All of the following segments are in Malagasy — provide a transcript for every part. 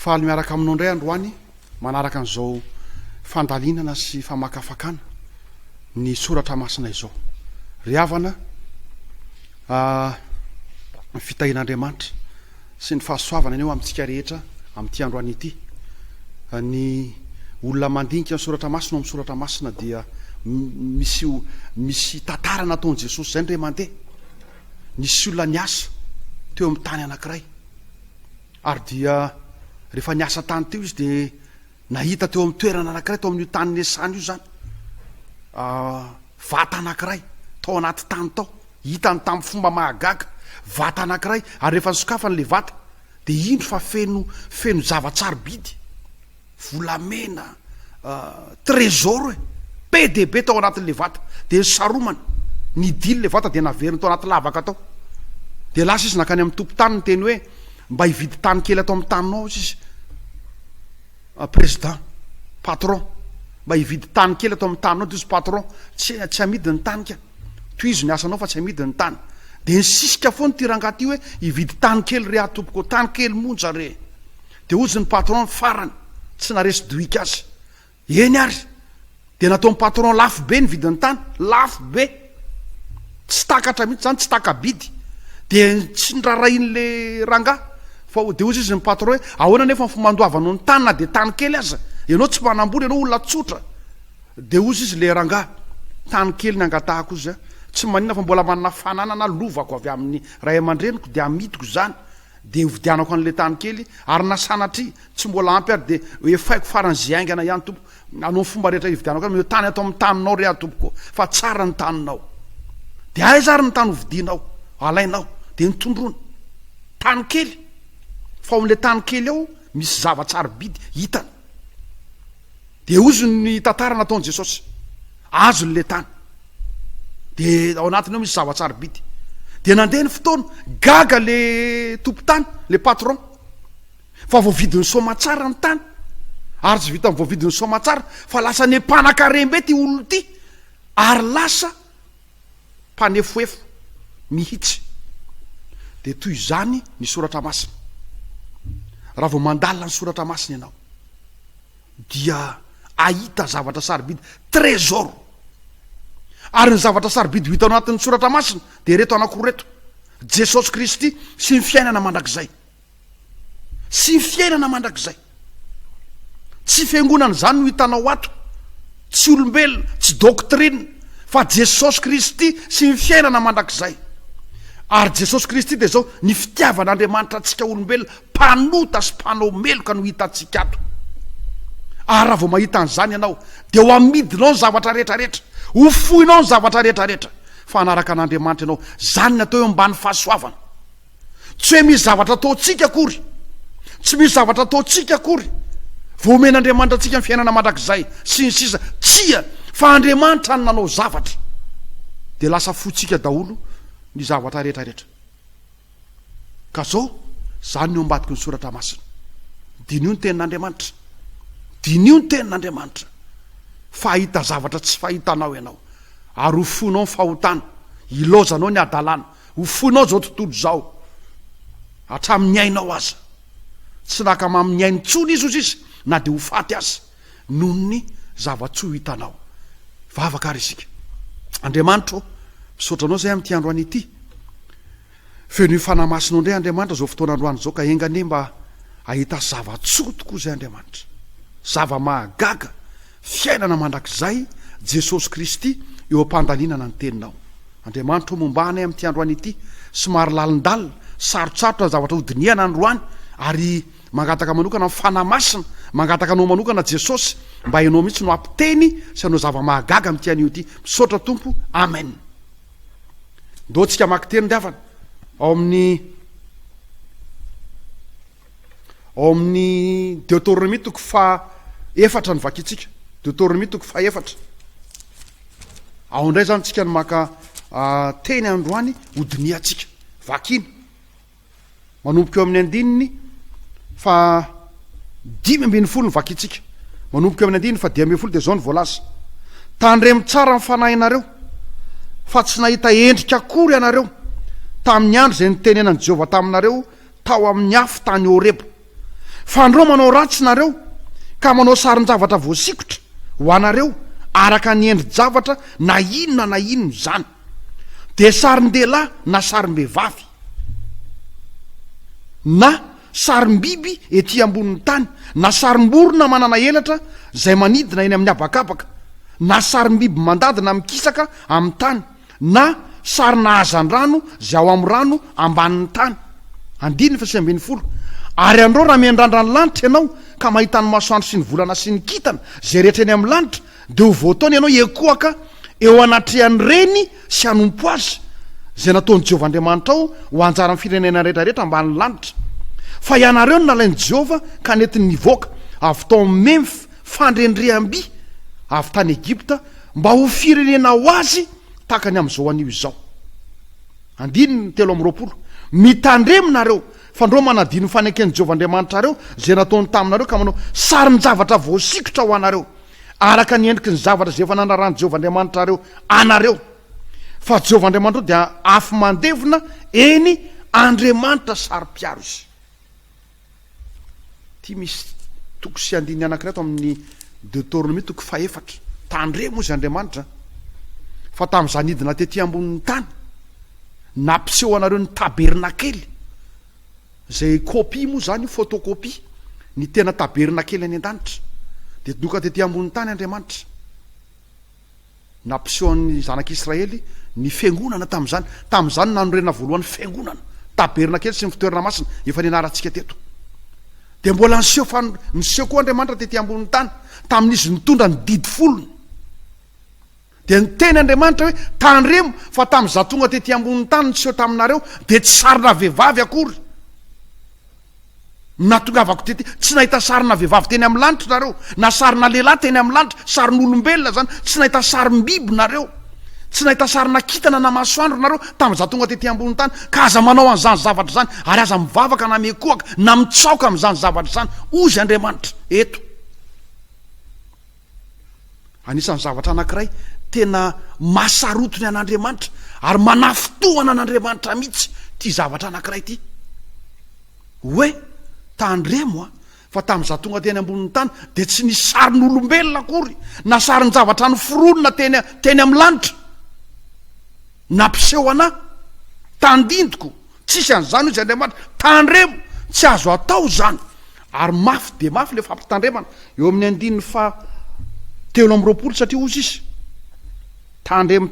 Faly miaraka aminao indray androany manaraka an'izao fandalinana sy famakafakana ny soratra masina izao. Ry havana, ny fitahian'Andriamanitra sy ny fahasoavany anie ho amintsika rehetra amin'ity androany ity. Ny olona mandinika ny soratra masina ao amin'ny soratra masina dia misy misy tantara nataon'i Jesosy izay indray mandeha. Nisy olona niasa teo amin'ny tany anankiray. Ary dia rehefa niasa tany teo izy dia nahita teo amin'ny toerana anankiray tao amin'io tany niasany io izany vata anankiray tao anaty tany tao, hitany tamin'ny fomba mahagaga, vata anankiray ary rehefa nisokafany ilay vata dia indro fa feno feno zava-tsarobidy. volamena trésor e! be dia be tao anatin'ilay vata dia nisaromana, nidily ilay vata dia naveriny tao anaty lavaka tao, dia lasa izy nankany amin'ny tompon-tany niteny hoe mba hividy tany kely ato amin'ny taninao aza izy président patron mba hividy tany kely ato amin'ny taninao dia izy patron tsy tsy amidy ny tany ka tohizo ny asanao fa tsy amidy ny tany dia nisisika foana ity rangahy ity hoe hividy tany kely re ahy tompoko tany kely monja re Dia hozy ny patron farany tsy naresy dohika azy. Eny ary. Dia nataon'ny patron lafo be ny vidin'ny tany. Lafo be. Tsy takatra mihitsy izany, tsy taka-bidy. Dia tsy norarahin'ilay rangahy. Fa dia hozy izy ny patron hoe, ahoana anefa ny fomba handoavanao ny tany na dia tany kely aza. Ianao tsy mpanam-bola, ianao olona tsotra. Dia hozy izy ilay rangahy, tany kely ny angatahako hozy an. Tsy maninona fa mbola manana fananana lovako avy amin'ny ray aman-dreniko dia amidiko izany. Dia hovidianako an'ilay tany kely ary na sanatria tsy mbola ampy ary dia hoefaiko farany izay haingana ihany tompoko. Anao ny fomba rehetra hividianako azy, mitany ato amin'ny taninao re aho tompoko fa tsara ny taninao. Dia aiza ary ny tany hovidianao, alainao? Dia notondroiny. Tany kely. Fa ao amin'ilay tany kely ao misy zava-tsarobidy hitany. Dia hozy ny tantara nataon'i Jesosy. Azony le tany. Dia ao anatiny ao misy zava-tsarobidy. Dia nandeha ny fotoana, gaga le tompon-tany, le patron. Fa voavidin'ny soamatsara ny tany. Ary tsy vitan'ny voavidin'ny soamatsara, fa lasa ny mpanankarem-be ty olona ty. Ary lasa mpanefoefo mihitsy. Dia toy izany ny soratra masina. Raha vao mandalina ny soratra masina ianao dia ahita zavatra sarobidy, trésor. Ary ny zavatra sarobidy ho hitanao anatin'ny soratra masina dia ireto anankiroa ireto, Jesosy Kristy sy ny fiainana mandrakizay. Tsy fiainana mandrakizay. Tsy fiangonana izany no hitanao ato. Tsy olombelona, tsy doctrine, fa Jesosy Kristy sy ny fiainana mandrakizay. Ary Jesosy Kristy dia izao, ny fitiavan'Andriamanitra antsika olombelona, mpanota sy mpanao meloka no hitantsika ato. Ary raha vao mahita an'izany ianao, dia ho amidinao ny zavatra rehetra rehetra, ho foinao ny zavatra rehetra rehetra, fa hanaraka an'Andriamanitra ianao. Izany ny atao hoe mba ny fahasoavana. Tsy hoe misy zavatra ataontsika akory. Tsy misy zavatra ataontsika akory. Vao omen'Andriamanitra antsika ny fiainana mandrakizay sy ny sisa. Tsia, fa Andriamanitra no nanao zavatra. Dia lasa fotsika daholo ny zavatra rehetra rehetra. Ka zao, zany ny eo ambadiky ny soratra masina. Diniho ny tenin'Andriamanitra. Diniho ny tenin'Andriamanitra. Fa hahita zavatra tsy fahitanao ianao. Ary ho fonao ny fahotana. Ilaozanao ny hadalana. Ho foinao izao tontolo izao, hatramin'ny ainao aza. Tsy naka mamin'ny ainy intsony izy, hoy sisa, na dia ho faty aza, noho ny zava-tsy ho hitanao. Hivavaka àry isika. Andriamanitra ô, misaotra Anao izay amin'ity androany ity. Fenoy Fanahy Masinao indray, Andriamanitra, izao fotoana androany izao, ka enga anie mba hahita zava-tsoa tokoa izay, Andriamanitra. Zava-mahagaga Fiainana mandrakizay Jesosy Kristy eo am-pandalinana ny Teninao. Andriamanitra ô, momba anay amin'ity androany ity. Somary lalindalina, sarotsarotra ny zavatra hodinihana androany, ary mangataka manokana ny Fanahy Masina, mangataka Anao manokana Jesosy, mba Ianao mihitsy no hampiteny sy hanao zava-mahagaga amin'ity anio ity. Misaotra Tompo. Amen. Ndao tsika hamaky teny ry havana ao amin'ny. Ao amin'ny Deoteronomia toko faha efatra ny vakintsika. Deoteronomia toko faha efatra. Ao indray izany tsika ny maka ah, teny androany hodinihantsika. Vakina. Manomboka eo amin'ny andininy fa dimy ambin'ny folo ny vakintsika. Manomboka eo amin'ny andininy fa dimy ambin'ny folo dia izao ny voalaza. Tandremo tsara ny fanahinareo fa tsy nahita endrika akory ianareo tamin'ny andro izay nitenenan'i Jehovah taminareo tao amin'ny afo tany Horeba. Fanirao manao ratsy nareo ka manao sarin-javatra voasikotra ho anareo araka ny endri-javatra na inona na inona izany, dia sarin-dehilahy na sarim-behivavy, na sarim-biby ety ambonin'ny tany, na sarim-borona manana elatra izay manidina eny amin'ny habakabaka, na sarim-biby mandady na mikisaka amin'ny tany, na sarina hazandrano izay ao amin'ny rano ambanin'ny tany, andininy faha sivy ambin'ny folo, Ary anreo raha miandrandra ny lanitra ianao ka mahita ny masoandro sy ny volana sy ny kintana izay rehetra eny amin'ny lanitra, dia ho voataona ianao hiekoaka eo anatrehan'ireny sy hanompo azy, izay nataon'i Jehovah Andriamanitrao ho anjaran'ny firenena rehetrarehetra ambanin'ny lanitra. Fa ianareo no nalain'i Jehovah ka nentiny nivoaka avy tao amin'ny Memfy fandrendreham-by avy tany Egypta, Mba ho firenena ho azy tahaka ny amin'izao anio izao. Andininy telo amby roapolo, Mitandremo nareo, fa ndrô manadino ny faneken'i Jehovah Andriamanitrareo izay nataony taminareo ka manao sarin-javatra voasikotra ho anareo, araka ny endriky ny zavatra izay efa nanarahan'i Jehovah Andriamanitrareo anareo. Fa Jehovah Andriamanitrareo dia afo mandevona, eny, Andriamanitra saro-piaro izy. Ity misy toko sy andininy anankiray ato amin'ny Deoteronomia toko fahefatra. Tandremo hoy izy Andriamanitra fa tamin'izaho nidina tety ambonin'ny tany, nampiseho anareo ny tabernakely, izay kopia moa izany io, photocopie, ny tena tabernakely any an-danitra. Dia doka tety ambonin'ny tany Andriamanitra. Nampisehoan'ny Zanak'Israely ny Fiangonana tamin'izany. Tamin'izany no nanorenana voalohany Fiangonana, tabernakely sy ny fitoerana masina, efa nianarantsika teto. Dia mbola niseho, fa niseho koa Andriamanitra tety ambonin'ny tany, tamin'izy nitondra ny didy folony. Dia niteny Andriamanitra hoe, tandremo fa tamin'izaho tonga tety ambonin'ny tany niseho taminareo, dia tsy sarina vehivavy akory. Natongavako tety, tsy nahita sarina vehivavy teny amin'ny lanitra nareo, na sarina lehilahy teny amin'ny lanitra, sarin'olombelona izany, tsy nahita sarim-biby nareo, tsy nahita sarina kintana na masoandro nareo tamin'izaho tonga tety ambonin'ny tany, ka aza manao an'izany zavatra izany, ary aza mivavaka na miekohaka na mitsaoka amin'izany zavatra izany, hozy Andriamanitra, eto. Anisan'ny zavatra anankiray tena mahasarotiny an'Andriamanitra ary manafintohana an'Andriamanitra mihitsy ity zavatra anankiray ity. Hoe, tandremo a, fa tamin'izaho tonga teny ambonin'ny tany dia tsy nisy sarin'olombelona akory na sarin-javatra noforonina teny teny amin'ny lanitra. Nampiseho anà, tandindoko, Tsisy an'izany hoy izy Andriamanitra. Tandremo, tsy azo atao izany. Ary mafy dia mafy ilay fampitandremana eo amin'ny andininy faha telo amby roapolo satria hozy izy, Tandremo,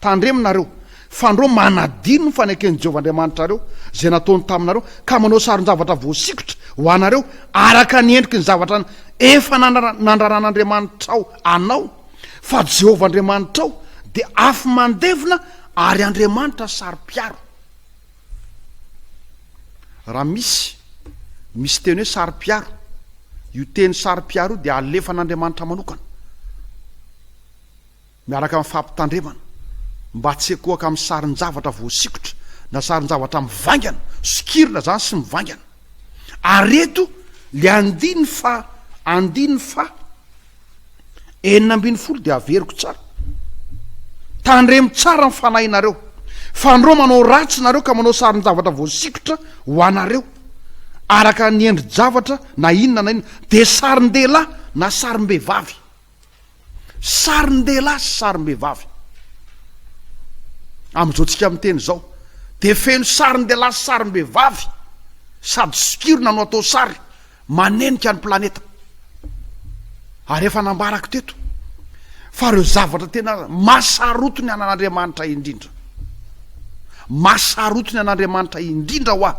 tandremo nareo, fandro manadino ny faneken'i Jehovah Andriamanitrareo izay nataony taminareo, ka manao saron-javatra voasikotra ho anareo araka ny endriky ny zavatra efa nandraran'Andriamanitrao anao, fa Jehovah Andriamanitrao dia afo mandevona ary Andriamanitra saro-piaro. Raha misy, misy teny hoe saro-piaro. Io teny saro-piaro io dia alefan'Andriamanitra manokana, miaraka amin'ny fampitandremana, mba tsy hikohaka amin'ny sarin-javatra voasikotra, na sarin-javatra mivaingana, sokirina izany sy mivaingana. Ary eto le andiny faha andiny faha enina ambin'ny folo dia averiko tsara. Tandremo tsara ny fanahinareo. Fandrao manao ratsy nareo ka manao sarin-javatra voasikotra ho anareo araka ny endri-javatra na inona na inona dia sarin-dehilahy na sarim-behivavy. Sarin-dehilahy sy sarim-behivavy. Amin'izao tsika miteny izao dia feno sarin-dehilahy sy sarim-behivavy sady sokirina no atao sary manenika ny planeta. Ary efa nambarako teto fa ireo zavatra tena mahasaroty ny anan'Andriamanitra indrindra. Mahasarotiny an'Andriamanitra indrindra hoa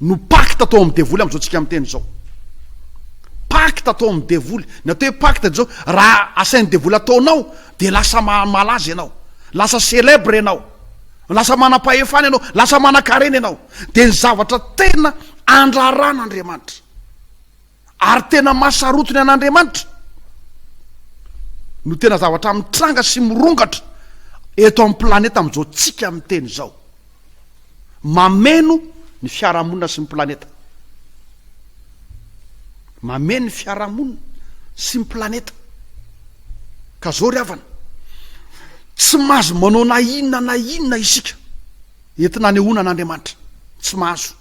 no pacte atao amin'ny devoly amin'izao tsika miteny izao. Pacte atao amin'ny devoly. Ny atao hoe pacte izao, raha asain'ny devoly ataonao, dia lasa malaza ianao. Lasa célèbre ianao. Lasa manam-pahefana ianao. Lasa manan-karena ianao. Dia ny zavatra tena andraran'Andriamanitra. Ary tena mahasarotiny an'Andriamanitra no tena zavatra mitranga sy mirongatra eto amin'ny planeta amin'izao tsika miteny izao. Mameno ny fiarahamonina sy ny planeta. Mameno ny fiarahamonina sy ny planeta. Ka zao ry havana, tsy mahazo manao na inona na inona isika entina anehoana an'Andriamanitra. Tsy mahazo.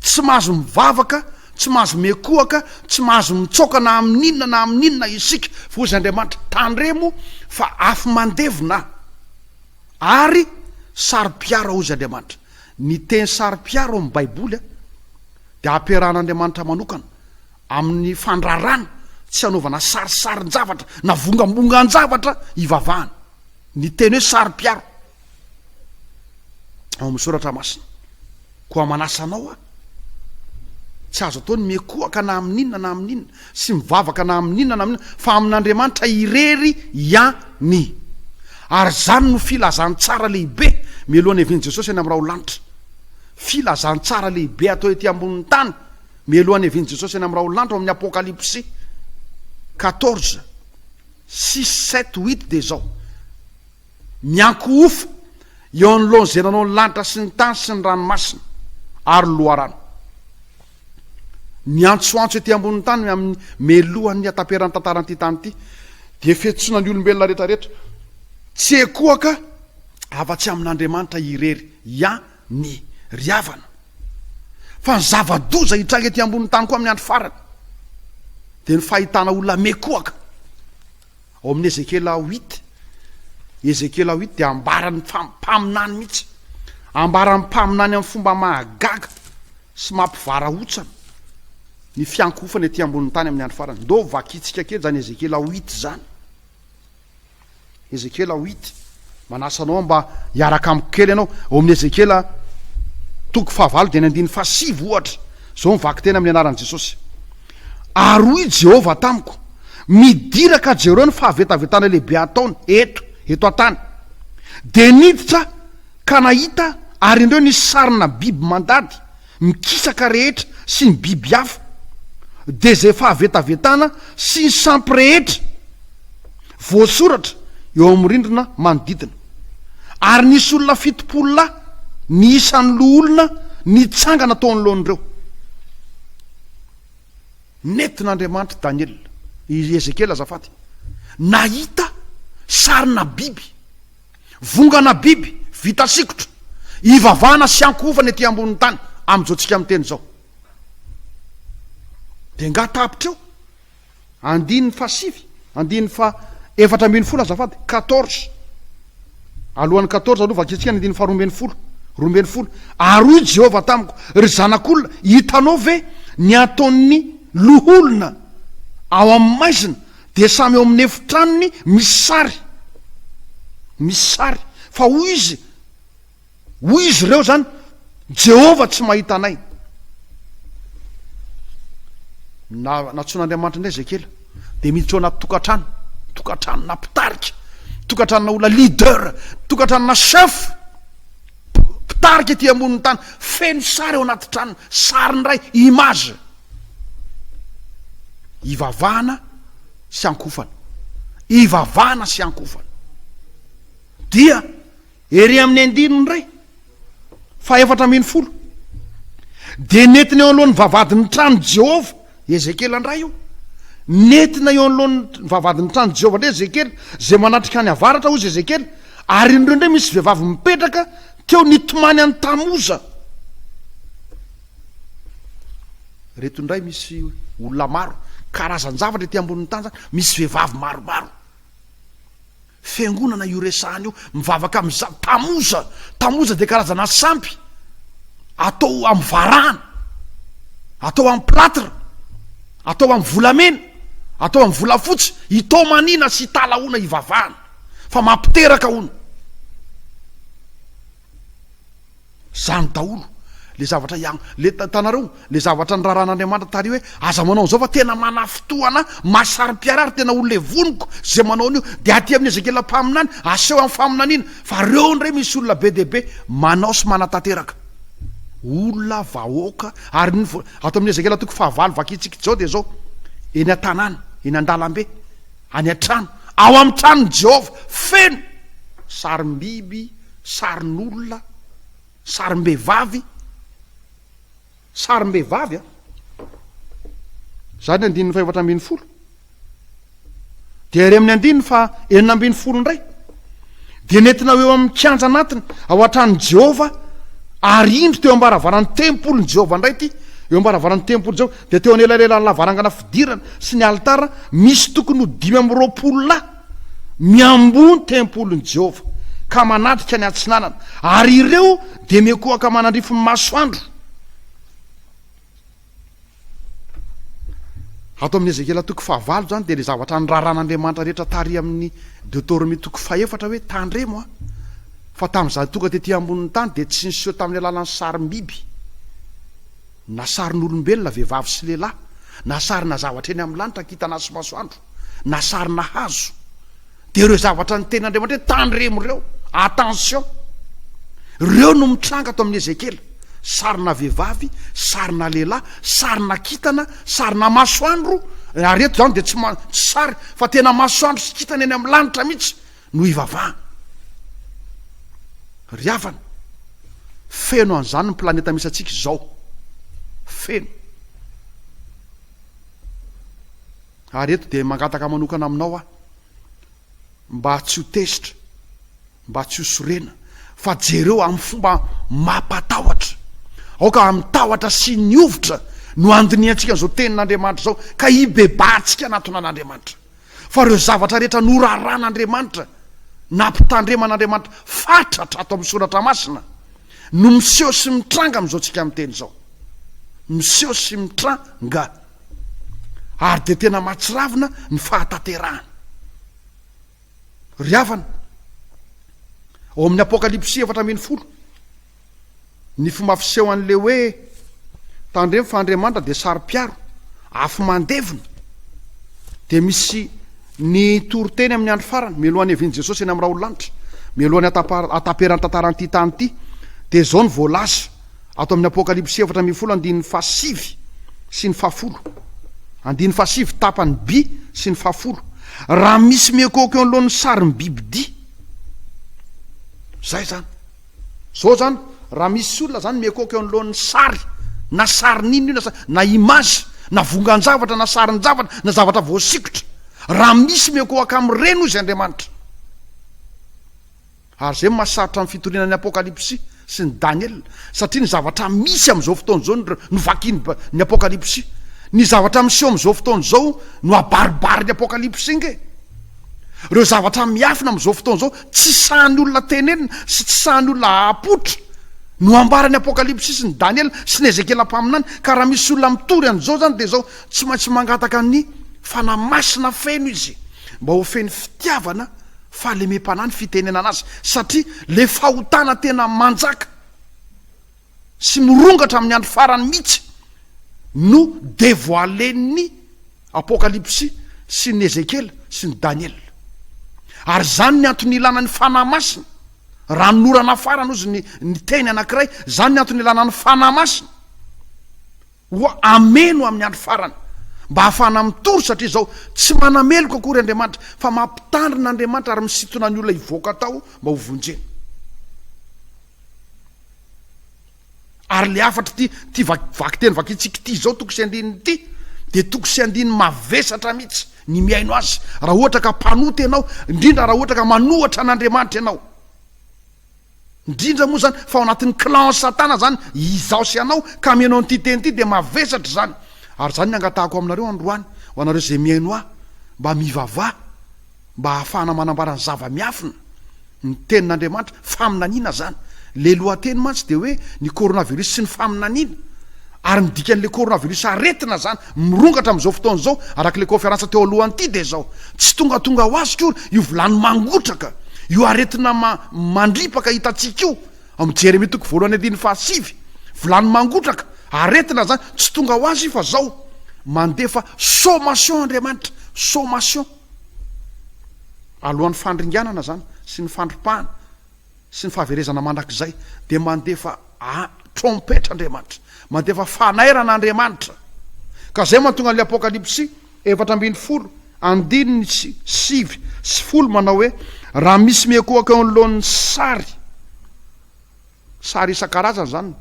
Tsy mahazo mivavaka, tsy mahazo miankohoka, tsy mahazo mitsaoka na amin'inona na amin'inona isika, fa hoy Andriamanitra, Tandremo fa afo mandevona Aho, ary saro-piaro Aho, hoy Andriamanitra. Ny teny saro-piaro ao amin'ny Baiboly dia ampiarahan'Andriamanitra manokana amin'ny fandrarana, tsy hanaovana sarisarin-javatra na vongambongan-javatra hivavahana. Ny teny hoe saro-piaro ao amin'ny Soratra Masina. Koa manasa anao aho, tsy azo atao ny miankohaka na amin'inona na amin'inona, sy mivavaka na amin'inona na amin'inona, fa amin'Andriamanitra irery ihany. Ary izany no filazantsara lehibe mialohan'ny havian'i Jesosy any amin'ny raho lanitra. Filazantsara lehibe atao ety ambonin'ny tany mialohan'ny havian'i Jesosy any amin'ny raho lanitra ao amin'ny Apokalypsy quatorze, six, sept, huit dia izao. Miankohofa eo anoloan'izay nanao ny lanitra sy ny tany sy ny ranomasina ary ny loharano. Miantsoantso ety ambonin'ny tany amin'ny melohan'ny hataperan'ny tantaran'ity tany ity, dia fiantsoana ny olombelona rehetrarehetra, tsy ekoaka afa-tsy amin'Andriamanitra irery ia ny ry havana. Fa ny zava-doza hitranga ety ambonin'ny tany koa amin'ny andro farany, dia ny fahitana olona miekoaka. Ao amin'ny Ezekiela huit, Ezekiela huit dia ambaran'ny mpaminany mihitsy, ambaran'ny mpaminany amin'ny fomba mahagaga sy mampivarahontsana ny fiankohofana ety ambonin'ny tany amin'ny andro farany. Ndao vakintsika kely izany Ezekiela huit izany. Ezekiela huit. Manasa anao aho mba hiaraka amiko kely ianao ao amin'ny Ezekiela toko fahavalo dia ny andininy fahasivy ohatra. Izao ny vaky tena amin'ny anaran'i Jesosy. Ary hoy i Jehovah tamiko, Midira ka jereo ny fahavetavetana lehibe ataony eto, eto an-tany. Dia niditra aho ka nahita, ary indreo, nisy sarina biby mandady. Ny kisaka rehetra sy ny biby hafa dia izay fahavetavetana sy ny sampy rehetra voasoratra eo amin'ny rindrina manodidina. Ary nisy olona fitopolo lahy ny isan'ny loholona nitsangana tao anoloan'ireo. Nentin'Andriamanitra Daniela, i Ezekiela azafady, nahita sarina biby. Vongana biby vita sikotra, ivavahana sy ankohofana ety ambonin'ny tany amin'izao tsika miteny izao. Dia nga tapitra eo? Andininy faha sivy, andininy faha efatra ambin'ny folo azafady, quatorze. Alohan'ny quatorze aloha vakintsika ny andininy faha roa ambin'ny folo, roa ambin'ny folo. Ary hoy Jehovah tamiko, Ry zanak'olona, hitanao ve ny ataon'ny loholona ao amin'ny maizina? Dia samy eo amin'ny efitranony misy sary, misy sary, fa hoy izy, hoy izy ireo izany, Jehovah tsy mahita anay. Na, nantsoin'Andriamanitra indray Ezekiela, dia miditra ao anaty tokantrano, tokantranona mpitarika, tokantranona olona leader, tokantranona chef. Mpitarika ety ambonin'ny tany, feno sary ao anaty tranony, sary ndray, image. Ivavahana sy ankofana. Ivavahana sy ankofana. Dia ery amin'ny andininy ndray, fahefatra ambin'ny folo, dia nentiny eo alohan'ny vavahadin'ny tranon'i Jehovah I Ezekiela indray io. Nentina eo anoloan'ny vavahadin'ny tranon'i Jehovah indray Ezekiela, izay manatrika any avaratra, hoy izy Ezekiela, ary indreo indray misy vehivavy mipetraka teo nitomany an'i Tamoza. Reto indray misy olona maro, karazan-javatra ety ambonin'ny tany izany, misy vehivavy maromaro. Fiangonana io resahana io mivavaka amin'ny za Tammuz. Tammuz dia karazana sampy atao amin'ny varahana, atao amin'ny platre, atao amin'ny volamena, atao amin'ny volafotsy, hitomaniana sy hitala hono hivavahana fa mampiteraka hono. Izany daholo le zavatra ian le hitanareo le zavatra niraran'Andriamanitra tary hoe aza manao an'izao fa tena manafintohana mahasarim-piara ary tena ho levoniko izay manao an'io de aty amin'ny Ezekiela mpaminany aseho amin'ny faminaniana fa reo indray misy olona be dia be manao sy manatanteraka olona vahoaka ary ny ato amin'ny Ezekiela toko fahavalo vakintsika izao dia izao eny an-tanàna eny an-dalambe Any an-trano, ao amin'ny tranon'i Jehovah, feno sarim-biby, sarin'olona, sarim-behivavy, sarim-behivavy a! Izany ny andininy fahefatra ambin'ny folo. Dia ary amin'ny andininy fahenina ambin'ny folo indray. dia nentina ho eo amin'ny kianja anatiny ao an-tranon'i Jehovah, ary indro teo am-baravaran'ny tempolin'i Jehovah indray ity, eo am-baravaran'ny tempolin'i Jehovah, dia teo anelanelan'ny lavarangana fidirana sy ny alitara, misy tokony ho dimy amby roapolo lahy miamboho ny tempolin'i Jehovah, ka manatrika ny atsinanana, ary ireo dia mikohaka manandrify ny masoandro. Ato amin'ny Ezekiela toko fahavalo izany dia ilay zavatra niraran'Andriamanitra rehetra tary amin'ny Deotoromia toko fahefatra hoe tandremo aho fa tamin'izaho tonga tety ambonin'ny tany dia tsy niseho tamin'ny alalan'ny sarim-biby na sarin'olombelona vehivavy sy lehilahy na sarina zavatra eny amin'ny lanitra kintana sy masoandro na sarina hazo Dia ireo zavatra ny teny Andriamanitra hoe tandremo ireo, attention, ireo no mitranga ato amin'ny Ezekiela, sarina vehivavy, sarina lehilahy, sarina kintana, sarina masoandro, ary eto izany dia tsy, tsy sary fa tena masoandro sy kintana eny amin'ny lanitra mihitsy no hivavahana. Ry havana, feno an'izany ny planeta misy antsika izao, feno. Ary eto dia mangataka manokana aminao aho mba tsy ho tezitra, mba tsy ho sorena, fa jereo amin'ny fomba mampatahotra. Aoka amin'ny tahotra sy ny hovitra no handinihantsika an'izao tenin'Andriamanitra izao, ka hibebahantsika hanatona an'Andriamanitra. Fa ireo zavatra rehetra noraran'Andriamanitra, nampitandreman'Andriamanitra fatratra ato amin'ny Soratra Masina, no miseho sy mitranga amin'izao tsika miteny izao. Miseho sy mitranga. ary dia tena mahatsiravina ny fahatanterahany. Ry havana, ao amin'ny Apokalypsy efatra ambin'ny folo, ny fomba fiseho an'ilay hoe tandremo fa Andriamanitra dia saro-piaro, afo mandevina, dia misy ny toriteny amin'ny andro farany, mialohan'ny hevian'i Jesosy eny amin'ny rahololanitra, mialohan'ny ataperan'ny tantaran'ity tany ity, dia izao ny voalaza, Ato amin'ny Apokalypsy efatra ambin'ny folo andininy fahasivy sy ny fahafolo, andininy fahasivy tapany by sy ny fahafolo, raha misy miekôka eo anoloan'ny sarin'ny bibidia, zay zany. Zao zany, raha misy olona zany miekôka eo anoloan'ny sary, na sarin'inona io, na sa- na image, na vongan-javatra, na sarin-javatra, na zavatra voasikotra, raha misy miekôaka amin'ireny, hoy izay Andriamanitra. Ary izay no mahasarotra ny fitoriana ny Apokalypsy sy ny Daniela, satria ny zavatra misy amin'izao fotoana izao no vakin'ny Apokalypsy. Ny zavatra miseho amin'izao fotoana izao no abaribarin'ny Apokalypsy ange. Ireo zavatra miafina amin'izao fotoana izao, tsy sahan'ny olona tenenina sy tsy sahan'ny olona hahapoitra, no ambaran'ny Apokalypsy sy ny Daniela sy ny Ezekiela mpaminany. Ka raha misy olona mitory an'izao izany, dia izao, tsy maintsy mangataka ny Fanahy Masina feno izy, mba ho feno fitiavana fahalemem-panahy ny fitenenana azy satria le fahotana tena manjaka sy mirongatra amin'ny andro farany mihitsy no devoilen'ny apokalypsy sy ny ezekiela sy ny daniela ary zany ny antony ilana ny fanahy masina raha ny norana farany ozy ny ny teny anankiray zany ny antony ilana ny fanahy masina Ho hameno amin'ny andro farany, mba hahafahana mitory, satria izao tsy manameloka akory Andriamanitra, fa mampitandrina Andriamanitra ary misintona ny olona hivoaka tao mba ho vonjena. Ary ilay hafatra ity ity vakiteny vakintsika ity izao toko sy andininy ity dia toko sy andininy mavesatra mihitsy ny mihaino azy raha ohatra ka mpanota ianao, indrindra raha ohatra ka manohatra an'Andriamanitra ianao. Indrindra moa izany fa ao anatin'ny clan satana izany izaho sy ianao ka mihaino an'ity teny ity dia mavesatra izany. Ary izany no angatahako aminareo androany ho anareo izay mihaino ahy mba mivavaha mba hahafahana manambara ny zava-miafina, ny tenin'Andriamanitra, faminaniana izany. Ilay lohateny mantsy dia hoe ny coronavirus sy ny faminaniana ary ny dikan'ilay coronavirus aretina izany. Mirongatra amin'izao fotoana izao, araka ilay kaonferansa teo alohany ity, dia izao, Tsy tongatonga ho azy akory io vilany mangotraka, io aretina ma, mandripaka hitantsika io, ao amin'ny Jeremia toko voalohany andininy fahasivy. Vilany mangotraka, aretina izany, tsy tonga ho azy io, fa izao, mandefa sommation Andriamanitra, sommation, alohan'ny fandringanana izany, sy ny fandripahana. sy ny fahaverezana mandrakizay dia mandefa trompetra Andriamanitra, mandefa fanairana Andriamanitra. Ka zay mantonga an'ilay Apokalypsy efatra ambin'ny folo andininy sy sivy sy folo manao hoe, raha misy miekohoka eo anoloan'ny sary, sary isan-karazany izany,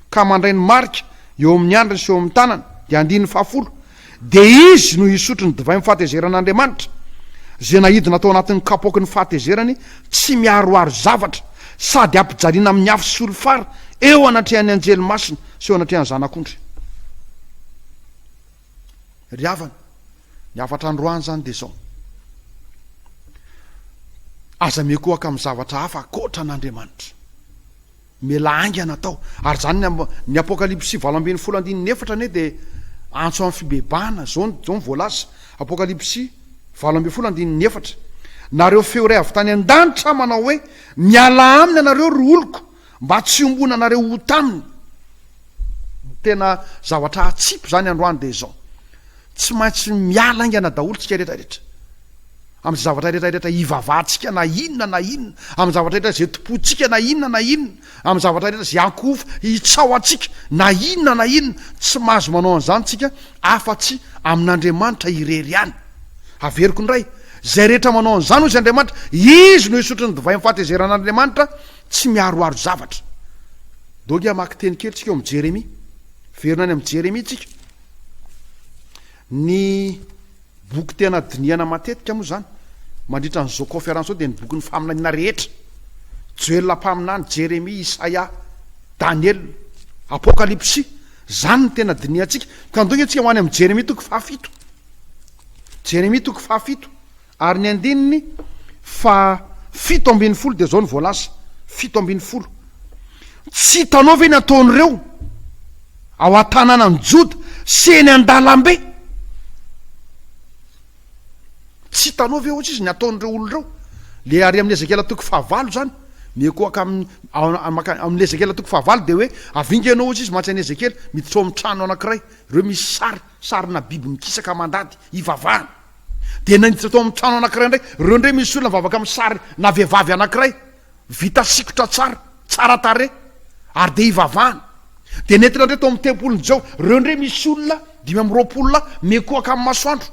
ka mandray ny marika eo amin'ny andriny sy eo amin'ny tanany, dia andininy fahafolo, Dia izy no hisotro ny divain'ny fahatezeran'Andriamanitra, izay naidina tao anatin'ny kapoaky ny fahatezerany tsy miaroaro zavatra, sady hampijaliana amin'ny afo sy solifara eo anatrehan'ny anjely masina sy eo anatrehan'ny Zanak'ondry. Ry havana, ny hafatra androany izany dia izao, Aza miankohoka amin'ny zavatra hafa ankoatra an'Andriamanitra. Mila haingana atao. Ary izany ny amb. Ny Apokalypsy valo ambin'ny folo andininy efatra anie dia antso amin'ny fibebahana, izao no izao no voalaza, Apokalypsy valo ambin'ny folo andininy efatra, Nareo feo iray avy tany an-danitra manao hoe, Mialà aminy ianareo, ry oloko, mba tsy hiombonanareo ho taminy. Tena zavatra hatsipy izany androany dia izao. Tsy maintsy miala aingana daholo tsika rehetra rehetra amin'ny zavatra rehetra rehetra hivavahantsika na inona na inona, amin'ny zavatra rehetra izay tompointsika na inona na inona, amin'ny zavatra rehetra izay ankohofo hitsaho antsika na inona na inona, tsy mahazo manao an'izany tsika afa-tsy amin'Andriamanitra irery ihany. Averiko indray, izay rehetra manao an'izany hoy izy Andriamanitra, izy no hisotro ny divay amin'ny fahatezeran'Andriamanitra tsy miharoharo zavatra. Dongy hamaky teny kely tsika ao amin'ny Jeremia. Hiverina any amin'ny Jeremia tsika. Ny boky tena dinihana matetika moa izany mandritra an'izao kaonferansy izao dia ny bokin'ny faminaniana rehetra, Joela mpaminany, Jeremia, Isaia, Daniela, Apokalypsy. Izany no tena dinihantsika. Ka andeho isika ho any amin'i Jeremia toko fahafito. Jeremia toko fahafito. Ary ny andininy faha fito ambin'ny folo dia izao no voalaza, fito ambin'ny folo, Tsy hitanao ve ny ataon'ireo ao an-tanànan'i Joda sy eny an-dalambe? Tsy hitanao ve, hoatry izy, ny ataon'ireo olona ireo? Ilay ary amin'i Ezekiela toko fahavalo izany, mihoakoaka amin'ny, amin'i Ezekiela toko fahavalo dia hoe, avy inga ianao, hoatry izy, mantsy an'i Ezekiela, miditra ao amin'ny trano anankiray, ireo misy sary, sarina biby mikisaka mandady, hivavahana. dia naiditra tao amin'ny trano anankiray indray. Ireo indray misy olona mivavaka amin'ny sary na vehivavy anankiray vita sikotra tsara, tsara tarehy, ary dia ivavahana. Dia nentina indray tao amin'ny tempolin'i Jao. Ireo indray misy olona dimy amby roapolo lahy mikohaka amin'ny masoandro.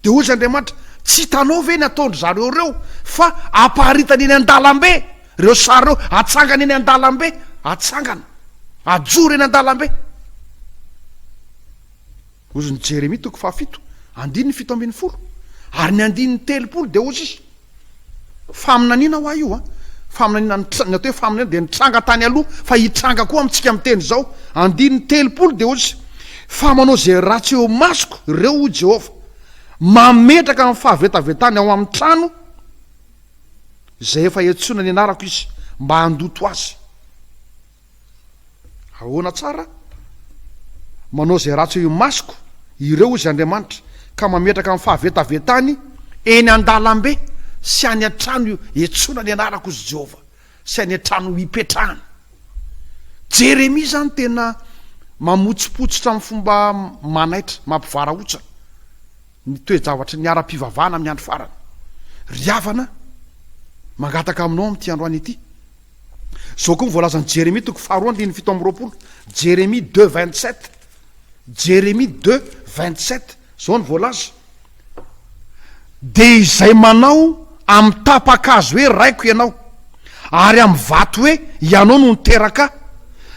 Dia hoy izy Andriamanitra, tsy hitanao ve ny ataon-dry zareo ireo? Fa aparitany eny an-dalambe ireo sary ireo, atsangany eny an-dalambe, atsangana, ajoro eny an-dalambe. Hozy ny Jeremia toko fahafito, andininy fito ambin'ny folo, ary ny andininy telopolo dia hozy izy, Faminaniana ho ahy io an! Faminaniana, ny atao hoe faminaniana dia nitranga tany aloha fa hitranga koa amintsika amin'ny teny izao. Andininy telopolo dia hozy izy, Fa manao izay ratsy eo imasoko ireo, hoy Jehovah, mametraka ny fahavetavetany ao amin'ny trano izay efa iantsoana ny anarako izy, mba handoto azy. Ahoana tsara? Manao izay ratsy eo imasoko ireo, hoy izy Andriamanitra, ka mametraka ny fahavetavetany eny an-dalambe sy any an-trano iantsoana ny anarako, hoy Jehovah, sy any an-trano ipetrahana. Jeremia izany tena mamotsipotsitra amin'ny fomba manaitra, mampivarahontsana, ny toe-javatry ny ara-pivavahana amin'ny andro farany. Ry havana, mangataka aminao amin'ity androany ity. Izao koa ny voalazan'i Jeremia toko faharoa andininy fito amby roapolo, Jeremia deux vingt sept, Jeremia deux vingt sept, izao ny voalaza. Dia izay manao amin'ny tapa-kazo hoe raiko ianao, ary amin'ny vato hoe ianao no niteraka ahy,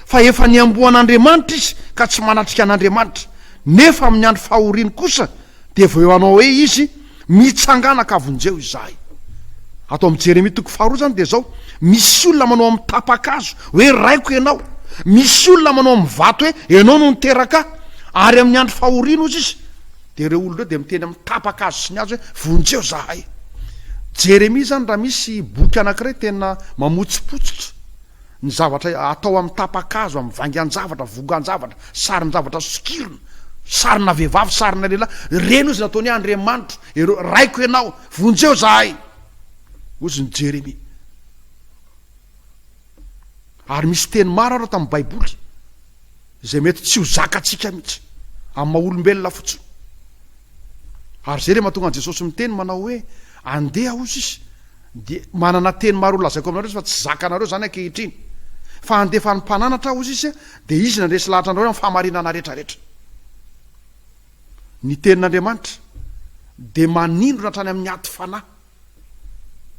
fa efa niamboan'Andriamanitra izy ka tsy manatrika an'Andriamanitra, nefa amin'ny andro fahoriany kosa dia vao eo hanao hoe izy, Mitsangana ka vonjeo izahay. Ato amin'i Jeremia toko faharoa izany dia izao, Misy olona manao amin'ny tapa-kazo hoe, Raiko ianao. Misy olona manao amin'ny vato hoe, Ianao no niteraka ahy. Ary amin'ny andro fahoriana, hozy izy, dia ireo olona ireo dia miteny amin'ny tapa-kazo sy ny hazo hoe, Vonjeo izahay. Jeremia izany raha misy boky anankiray tena mamotsipotsitra. Ny zavatra atao amin'ny tapa-kazo, amin'ny vaingan-javatra, vongan-javatra, sarin-javatra sokirina, sarina vehivavy, sarina lehilahy, ireny hozy no ataony hoe andriamanitro, ireo, raiko ianao, vonjeo zahay, hozy ny Jeremia. Ary misy teny maro ary ao tamin'ny Baiboly Izay mety tsy ho zakantsika mihitsy, amin'ny maha olombelona fotsiny. Ary izay dia mahatonga an'i Jesosy miteny manao hoe, Andeha, hozy izy, dia manana teny maro holazaiko aminareo izy fa tsy zakanareo izany ankehitriny. Fa handefa ny mpananatra aho, hozy izy, dia izy no handresy lahatra anareo amin'ny fahamarinana rehetrarehetra. Ny tenin'Andriamanitra dia manindrona hatrany amin'ny aty fanahy.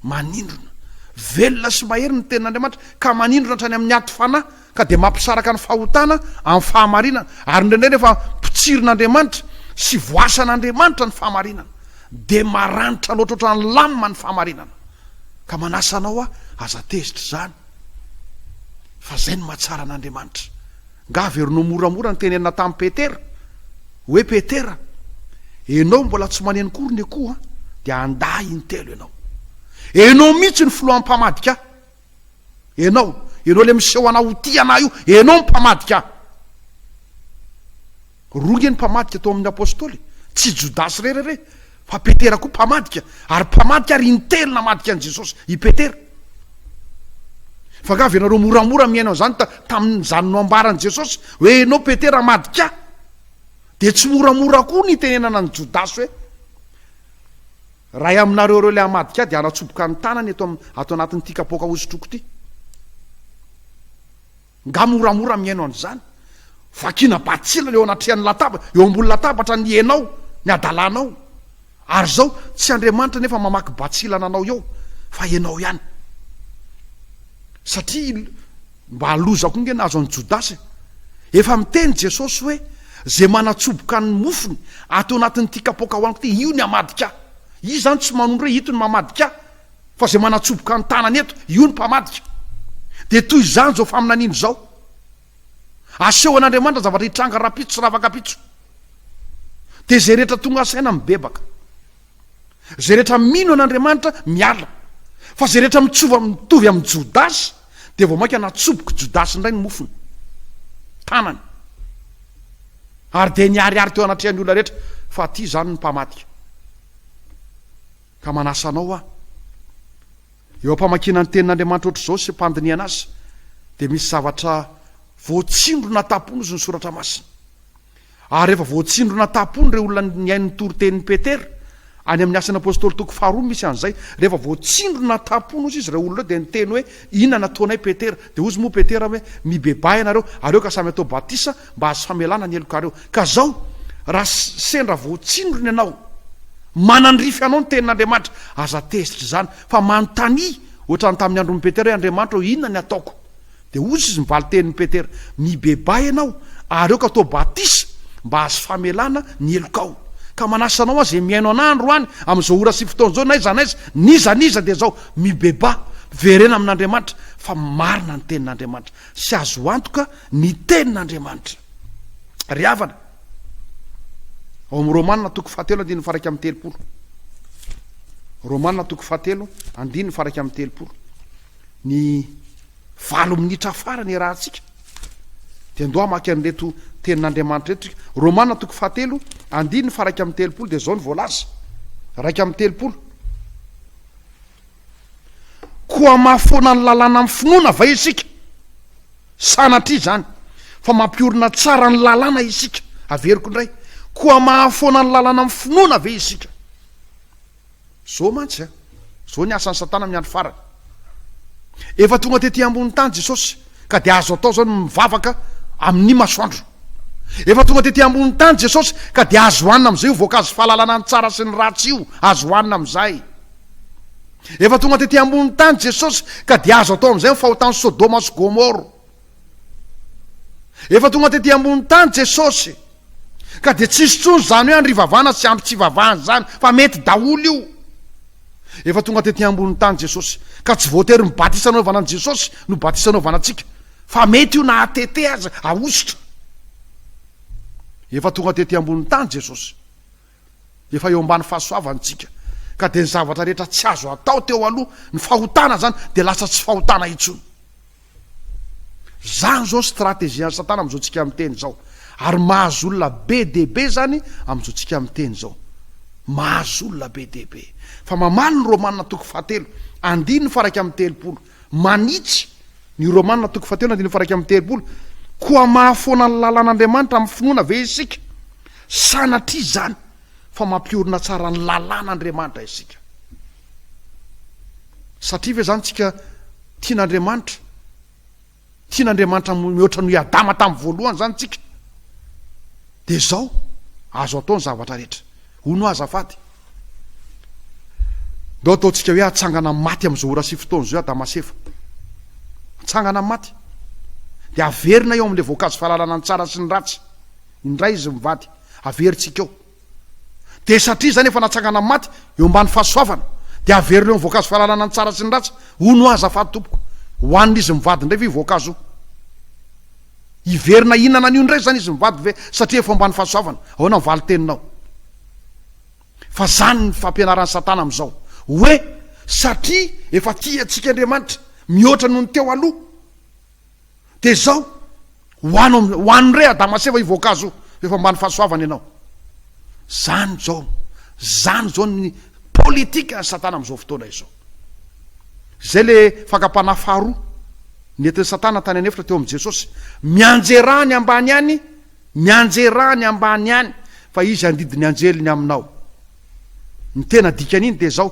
Manindrona. Velona sy mahery ny tenin'Andriamanitra, ka manindrona hatrany amin'ny aty fanahy, ka dia mampisaraka ny fahotana amin'ny fahamarinana. Ary indraindray nefa potsirin'Andriamanitra sy voasan'Andriamanitra ny fahamarinana. Dia maranitra loatra ohatran'ny lamina ny fahamarinana. Ka manasa anao aho, aza tezitra izany, fa izay no mahatsara an'Andriamanitra. Nga averino moramora ny tenenina tamin'i Petera hoe Petera enao mbola tsy maneno kory ny akoho an, dia handà intelo enao. Enao mihitsy ny filohan'ny mpamadika ahy. Enao, enao le miseho hanao ho tia anah io, enao ny mpamadika ahy. Roa anie ny mpamadika tao amin'ny Apôstôly, tsy Jodasy irery re, fa Petera koa mpamadika, ary mpamadika ary in-telo namadika an'i Jesosy i Petera. Fa nga avy ianareo moramora mihaino an'izany ta, tamin'izany noambaran'i Jesosy hoe enao Petera amadika ahy? Dia tsy moramora koa ny itenenana an'i Jodasy hoe, Ray aminareo ireo ilay hamadika ahy dia hanatsoboka ny tanany eto am, ato anatin'ity kapoaka hosotroko ity. Nga moramora mihaino an'izany? Vakiana batsilana eo anatrehan'ny lataba, eo ambony latabatra ny enao, ny adalanao. Ary zao, tsy Andriamanitra nefa mamaky batsilana anao eo, fa enao ihany. Satria il, mba halozako nge nahazo an'i Jodasy e. Efa miteny Jesosy hoe, ze manatsoboka ny mofony ato anatin'ity kapoaka hohaniko ty, io ny hamadika ahy. Izy zany tsy manondro hoe ito ny mamadika ahy, Fa izay manatsoboka ny tanany eto, io ny mpamadika. Dia toy izany izao faminaniana izao. Asehon' Andriamanitra ny zavatra hitranga rahampitso sy rahafakapitso. Dia izay rehetra tonga saina mibebaka. Izay rehetra mino an' Andriamanitra miala. Fa izay rehetra mitsova mitovy amin'i Jodasy, dia vao mainka natsobok'i Jodasy indray ny mofony, tanany. Ary dia niharihary teo anatrehan'ny olona rehetra fa aty izany ny mpamadika. Ka manasa anao aho. Eo am-pamakiana ny Tenin'Andriamanitra hoatr'izao sy am-pandinihana azy, dia misy zavatra voatsindrona an-tampon'ny izy ny Soratra Masina. Ary rehefa voatsindrona an-tampon'ny ireo olona nihaino ny toritenin'i Petera, any amin'ny Asan'ny Apôstôly toko faharoa no misy an'izay, rehefa voatsindrona an-tampon'ny izy ireo olona ireo dia niteny hoe, Inona no ataonay Petera? Dia hozy moa Petera hoe, Mibebaha ianareo, aleo ka samy atao batisa mba hahazo famelana ny helokareo. Ka izao, raha sendra voatsindrona ianao, manandrify anao ny Tenin'Andriamanitra, aza tezitra izany, fa manontania, hoatran'ny tamin'ny andron'i Petera hoe, Andriamanitra ô, inona ny ataoko? Dia hozy izy ny valin-tenin'i Petera, Mibebaha ianao, ary aoka atao batisa mba hahazo famelana ny helokao. Ka manasa anao aho izay mihaino anah androany, amin'izao ora sy fotoana izao, n'aiza n'aiza, n'iza n'iza dia izao, Mibebaha, miverena amin'Andriamanitra fa marina ny tenin'Andriamanitra sy azo antoka ny tenin'Andriamanitra. Ry havana, ao amin'ny Romana toko fahatelo andininy faraika amin'ny telopolo. Romana toko fahatelo andininy faraika amin'ny telopolo. Ny valo minitra farany iarahantsika dia ndoa hamaky an'ireto tenin'Andriamanitra reto isika. Romana toko fahatelo andininy faraika amin'ny telopolo dia izao ny voalaza. Raika amin'ny telopolo. Koa mahafoana ny lalàna amin'ny finoana va isika? Sanatria izany, fa mampiorina tsara ny lalàna isika. Averiko indray, koa mahafoana ny lalàna amin'ny finoana ve isika? Izao mantsy an, izao ny asan'i Satana amin'ny andro farany. Efa tonga tety ambonin'ny tany Jesosy. Ka dia azo atao izao ny mivavaka amin'ny masoandro. Efa tonga tety ambonin'ny tany Jesosy, ka dia azo hohanina amin'izay io voankazo fahalalana ny tsara sy ny ratsy io, azo hohanina amin'izay. Efa tonga tety ambonin'ny tany Jesosy, ka dia azo atao amin'izay ny fahotan'i Sodoma sy Gomoro. Efa tonga tety ambonin'ny tany Jesosy. Ka dia tsisy intsony izany hoe andrivavana sy ampy tsy ivavahana izany fa mety daholo io. Efa tonga tety ambony tany Jesosy ka tsy voatery ny batisa anaovana an'i Jesosy no batisa anaovana antsika fa mety io na atete aza ahosotra. Efa tonga tety ambony tany Jesosy. Efa eo ambany fahasoavany tsika. Ka dia ny zavatra rehetra tsy azo atao teo aloha ny fahotana izany dia lasa tsy fahotana intsony. Zany zao strategian'i satana amin'izao tsika miteny zao. Ary mahazo olona be dia be zany amin'izao tsika miteny zao. Mahazo olona be dia be. Fa mamaly ny Romana toko fahatelo, andininy faha iraika amby telopolo. Manitsy ny Romana toko fahatelo, andininy faha iraika amby telopolo. Koa mahafoana ny lalan'Andriamanitra amin'ny finoana ve isika? Sanatria izany fa mampiorina tsara ny lalan'Andriamanitra isika. Satria ve zany tsika tiana Andriamanitra? Tiana Andriamanitra mihoatra noho i Adama tamin'ny voalohany zany tsika? Dia zao, azo atao ny zavatra rehetra. Hono azafady. Ndao ataontsika hoe atsangana amin'ny maty amin'izao ora sy fotoana izao Adama sy Eva. Atsangana amin'ny maty. Dia averina eo amin'ilay voankazo fahalalana ny tsara sy ny ratsy. Indray izy mivady. Averintsika eo. Dia satria izany efa natsangana maty eo ambany fahasoavana, dia averina eo ny voankazo fahalalana ny tsara sy ny ratsy. Hono hoa azafady tompoko, hohanin'izy mivady indray ve io voankazo io? Hiverina hihinana an'io indray izany izy mivady ve satria efa eo ambany fahasoavana? Ahoana ny valin-teninao? Fa izany ny fampianaran'i Satana amin'izao, hoe satria efa tia antsika Andriamanitra mihoatra noho ny teo aloha, Dia izao, ho anao am- ho an'i Re Adama Seva io voankazo io, rehefa ambany fahasoavana ianao. Izany izao, izany izao ny politikan'i Satana amin'izao fotoana izao. Izay ilay fakam-panahy faharoa nentin'i Satana tany an'efitra teo amin'i Jesosy. Mianjerà any ambany any, mianjerà any ambany any, fa izy handidy ny anjeliny aminao. Ny tena dikan'iny dia izao,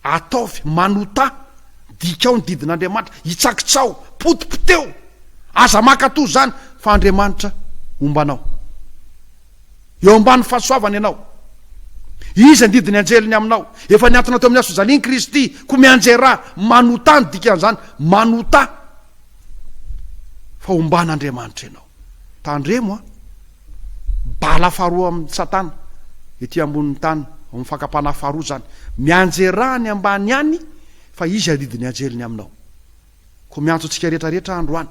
Ataovy, manotà, dikao ny didin'Andriamanitra, itsakitsaho, potipoteho, aza mankatò izany, fa Andriamanitra homba anao. Eo ambany fahasoavany ianao. Izy andidy ny anjeliny aminao. Efa niantona teo amin'ny hasojaliany Kristy, koa mianjera, manotà ny dikan'izany, manotà, fa homban'Andriamanitra ianao. Tandremo a! Bala faharoa amin'i Satana ety ambonin'ny tany, ao amin'ny fakam-panahy faharoa izany. Mianjerà any ambany any fa izy aridin'ny anjeliny aminao. Koa miantso antsika rehetra rehetra androany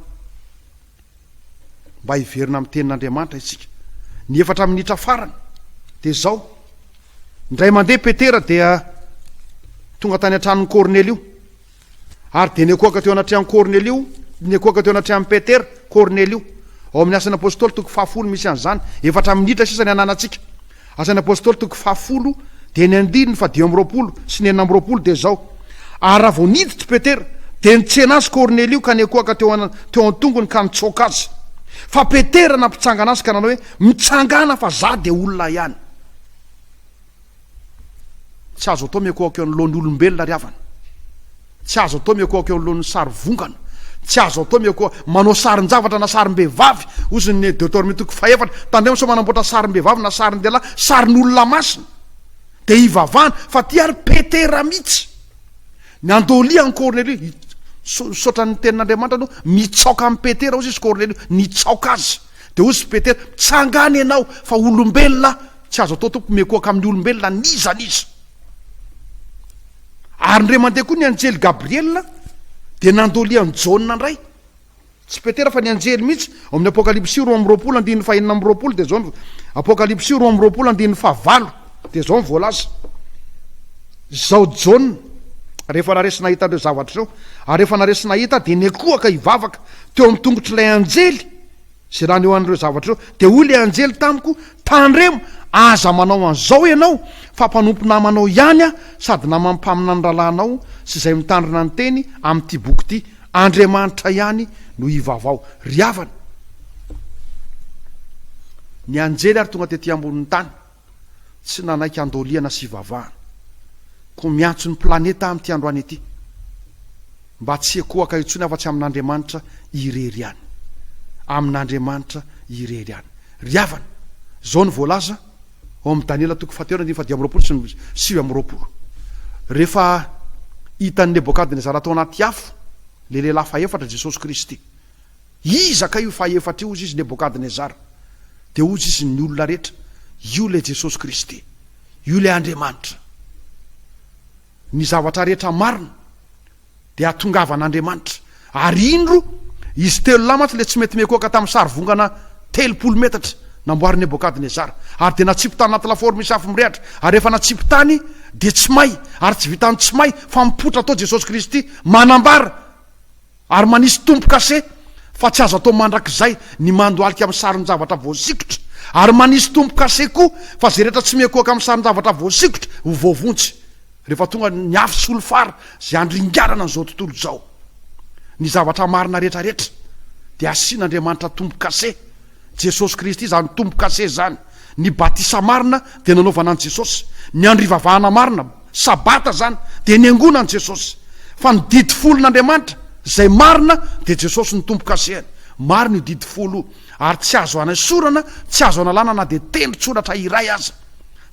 mba hiverina amin'ny Tenin'Andriamanitra isika. Ny efatra minitra farany dia izao, indray mandeha Petera dia tonga tany an-tranon'i Kornelio. Ary dia niankohoka teo anatrehan'i Kornelio, niankohoka teo anatrehan'i Petera, Kornelio. Ao amin'ny Asan'ny Apôstôly toko fahafolo misy an'izany. Efatra minitra sisa ny ananantsika. Asan'ny Apôstôly toko fahafolo dia ny andininy fadimy amby roapolo sy ny enina amby roapolo dia izao, Ary raha vao niditra i Petera, dia nitsena azy Kornelio ka niankohoka teo teo an-tongony ka nitsoaka azy. Fa Petera nampitsangana azy ka nanao hoe, Mitsangàna fa izaho dia olona ihany. Tsy azo atao mihakohako eo anoloan'ny olombelona ry havana. Tsy azo atao mihakohako eo anoloan'ny sary vongana. Tsy azo atao mihakoha manao sarin-javatra na sarim-behivavy, hoy izy ny Deuteronomie toko fahefatra. Tandremo sao manamboatra sarim-behivavy na sarin-dehilahy, sarin'olona masina. Dia hivavahana, fa ity ary Petera mihitsy. Ny andoli an'i Kornelio, misaotra ny tenin'Andriamanitra aloha, mitsaoka an'i Petera, hoy izy Kornelio, nitsaoka azy. Dia hoy izy Petera, mitsanga any ianao, fa olombelona aho. Tsy azo atao Tompo mikoaka amin'ny olombelona n'iza n'iza. Ary indray mandeha koa ny anjely Gabriela dia nandolia an'i Jaona indray. Tsy Petera fa ny anjely mihitsy ao amin'ny Apokalypsy roa amby roapolo andininy fahenina amby roapolo dia izao Apokalypsy roa amby roapolo andininy fahavalo dia izao ny voalaza. Izao Jaona rehefa naresy nahita ireo zavatra ireo ary rehefa naresy nahita dia nikoaka hivavaka teo amin'ny tongotr'ilay anjely Izay naneho an'ireo zavatra ireo. Dia hoy ilay anjely tamiko, Tandremo, aza manao an'izao ianao, fa mpanompo namanao ihany aho, sady naman'ny mpaminany rahalahinao sy izay mitandrina ny teny amin'ity boky ity. Andriamanitra ihany no hivavaho. Ry havana! Ny anjely ary tonga tetỳ ambonin'ny tany. tsy nanaiky andoliana sy hivavahana, koa miantso ny planeta amin'ity androany ity mba tsy hiekohaka intsony afa-tsy amin'Andriamanitra irery ihany. Amin'Andriamanitra irery ihany. Ry havana, izao no voalaza ao amin'ny Daniela toko fahatelo andininy fahadimy amby roapolo sy ny sivy amby roapolo, Rehefa hitan'i Nebokadnezara tao anaty afo ilay lehilahy fahefatra, Jesosy Kristy, Iza kay io fahefatra io? Hozy izy Nebokadnezara, dia hozy izy ny olona rehetra, Io ilay Jesosy Kristy, io ilay Andriamanitra. Ny zavatra rehetra marina dia hatongavan'Andriamanitra. Ary indro, izy telo lahy mantsy ilay tsy mety mikoaka tamin'ny sarivongana telopolo metatra namboarin'i Nebokadnezara. Ary dia natsipy tany anaty lafaoro misy afo mirehatra. Ary rehefa natsipy tany, dia tsy may. Ary tsy vitan'ny tsy may, fa mipoitra tao Jesosy Kristy, manambara. Ary manisy tombo-kase fa tsy azo atao mandrakizay ny mandohalika amin'ny sarin-javatra voasikotra, ary manisy tombo-kase koa fa izay rehetra tsy miankohoka amin'ny sarin-javatra voasikotra ho voavonjy rehefa tonga ny afo sy olom-fara izay handringanana an'izao tontolo izao. Ny zavatra marina rehetra rehetra dia asian'Andriamanitra tombo-kase. Jesosy Kristy izany tombo kase izany. Ny batisa marina dia nanaovana an'i Jesosy. Ny andro ivavahana marina, sabata izany, dia niangona an'i Jesosy. Fa ny didy folon'Andriamanitra, izay marina, dia Jesosy no tombo kasehany. Marina io didy folo io. Ary tsy azo anaisorana, tsy azo analana na dia tendron-tsoratra iray aza.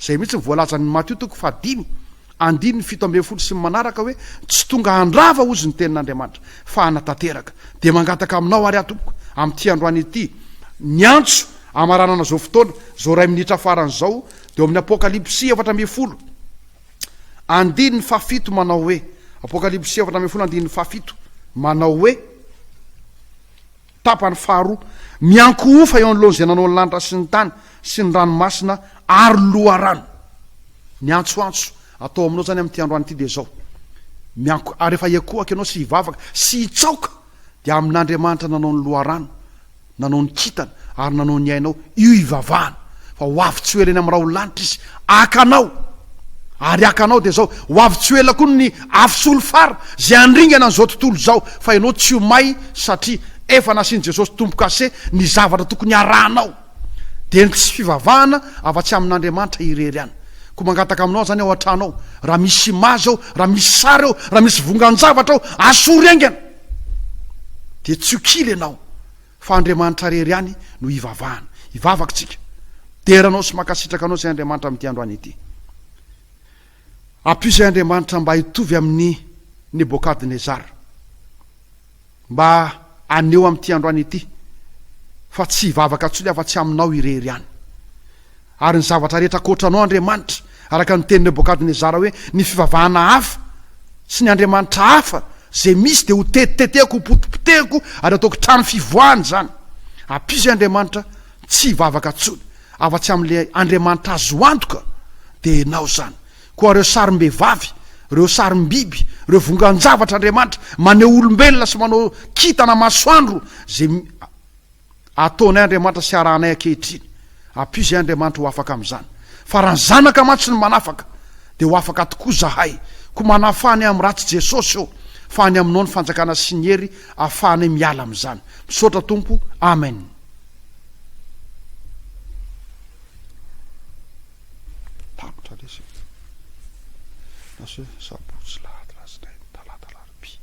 Izay mihitsy no voalazan'i Matio toko fahadimy, Andininy fito ambin'ny folo sy ny manaraka hoe, Tsy tonga handrava hozy ny tenin'Andriamanitra, fa hanatanteraka. Dia mangataka aminao ary aho tompoko, amin'ity androany ity, miantso hamaranana izao fotoana, izao iray minitra farany izao, dia ao amin'ny Apokalypsy efatra ambin'ny folo andininy fahafito manao hoe, Apokalypsy efatra ambin'ny folo andininy fahafito manao hoe, Tapany faharoa, Miankohofa eo anoloan'izay nanao ny lanitra sy ny tany sy ny ranomasina ary loharano. Ny antsoantso atao aminao izany amin'ity androany ity dia izao, Miank ary rehefa hiankohaka ianao sy hivavaka sy hitsaoka dia amin'Andriamanitra nanao ny loharano, nanao ny kintana ary nanao ny aina ao, Io hivavahana fa ho avy tsy ho ela eny amin'ny raholanitra izy, haka anao, ary haka anao dia izao, ho avy tsy ho ela koa ny afo sy olom-fara izay handringana an'izao tontolo izao, fa ianao tsy ho may satria efa nasian'i Jesosy Tompo kase ny zavatra tokony harahanao. Dia ny tsy fivavahana afa-tsy amin'Andriamanitra irery ihany. Koa mangataka aminao izany ao an-trano ao, raha misy imazy ao, raha misy sary ao, raha misy vongan-javatra ao, asory haingana, dia tsy ho kila ianao. Fa Andriamanitra rery ihany no hivavahana. Hivavaka isika. Midera anao sy mankasitraka anao izay Andriamanitra amin'ity androany ity. Ampio izay Andriamanitra mba hitovy amin'i Nebokadnezara. Mba aneho amin'ity androany ity fa tsy hivavaka intsony afa-tsy aminao irery ihany. Ary ny zavatra rehetra ankoatra Anao, Andriamanitra, araka ny tenin'i Nebokadnezara hoe, Ny fivavahana hafa sy ny andriamanitra hafa izay misy dia hotetitetehako, hopotipotehiko ary hataoko trano fivoahana izany. Ampizo, Andriamanitra, tsy hivavaka intsony afa-tsy amin'ilay Andriamanitra azo antoka, dia Ianao izany. Koa ireo sarim-behivavy, ireo sarim-biby, ireo vongan-javatra, Andriamanitra, maneho olombelona sy manao kintana masoandro izay Ataonay Andriamanitra sy arahanay ankehitriny. Ampio izay Andriamanitra ho afaka amin'izany. Fa raha ny Zanaka mantsy no manafaka, dia ho afaka tokoa izahay. Koa manafaha ny amin'ny ratsy Jesosy ô, fa any Aminao ny fanjakana sy ny hery ahafahanay miala amin'izany. Misaotra Tompo. Amen. Tapitra lesy e. Naseho sabotsy, lahady, alatsinainy, talata, alarobia.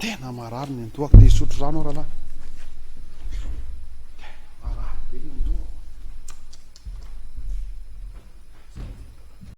Tena marary ny andohako, dia hisotro rano aho rahalahy.